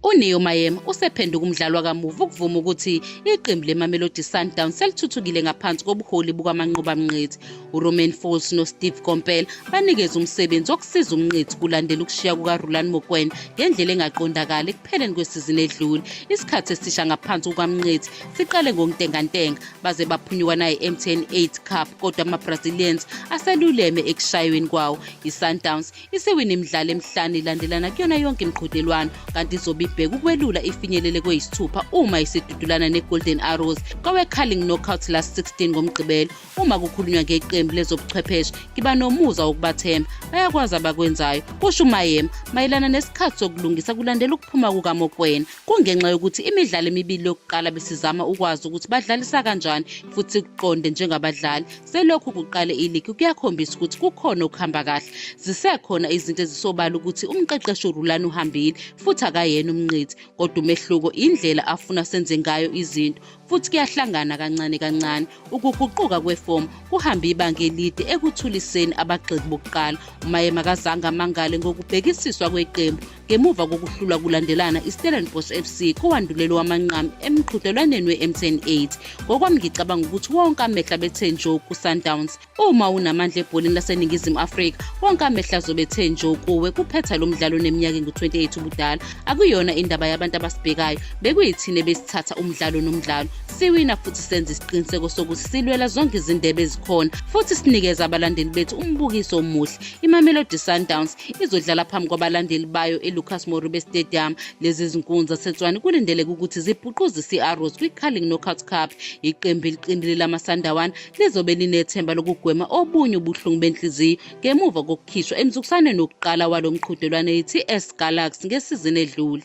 UNeo Maema usephenduka umdlali wakamuva ukuvuma ukuthi iqembu leMamelodi Sundowns selithuthukile ngaphansi kobuholi bukaManqoba Mnqithi. URomain Folz noSteve Komphela banikeze umsebenzi wokusiza uMnqithi kulandela ukushiya kukaRulani Mokwena ngendlela engaqondakali ekupheleni kwesizini edlule. Isikhathi esisha ngaphansi kukaMnqithi siqale ngokuntengantenga baze baphunyuka naye MTN 8 Cup kodwa amaBrazilians aseluleme ekushayweni kwawo iSundowns isiwine imidlalo emihlanu ilandelana kuyona yonke imiqhudelwano kanti izobe ibheka ukwelula ifinyelele kweyisithupha uma isidudulana ne-golden arrows kowe-carling knockout last 16 ngomgqibelo uma kukhulunywa ngeqembu lezobuchwepheshe ngiba nomuza wokubathemba bayakwazi abakwenzayo kusho umayema mayelana nesikhathi sokulungisa kulandela ukuphuma kukamokwena kungenxa yokuthi imidlalo emibili yokuqala besizama ukwazi ukuthi badlalisa kanjani futhi kuqonde njengabadlali Selokhu kuqale iligi kuyakhombisa ukuthi kukhona okuhamba kahle. Zisekhona izinto ezisobala ukuthi umqeqeshi uRulani uhambile futhi akayena umnqithi, kodwa umehluko indlela afuna senze ngayo izinto futhi kuyahlangana kancane kancane. Ukuguquka kwefomu kuhambe ibanga elide ekuthuliseni abagxeki bokuqala. UMaye makazange amangale ngokubhekisiswa kweqembu ngemuva kokuhlulwa kulandelana istellenbosch fc kowandulelo wamanqamu emqhudelwaneni we-mtn 8 ngokwami ngicabanga ukuthi wonke amehla bethe njo kusundowns uma unamandla ebholini laseningizimu afrika wonke amehla azobethe njo kuwe kuphetha lo mdlalo oneminyaka engu-28 ubudala akuyona indaba yabantu abasibhekayo bekuyithine besithatha umdlalo nomdlalo siwina futhi senza isiqiniseko sokuthi silwela zonke izindebe ezikhona futhi sinikeza abalandeli bethu umbukiso omuhle imamelodi sundowns izodlala phambi kwabalandeli bayo elucas moribe stadium lezi zinkunzi zasetswani kulindeleke ukuthi zibhuquzise i-arrows kwi-carling knockout cup iqembu eliqinile lamasandawana lizobe linethemba lokugwema obunye ubuhlungu benhliziyo ngemuva kokukhishwa emzukusaneni wokuqala walo mqhudelwane yi-ts galaxy ngesizini edlule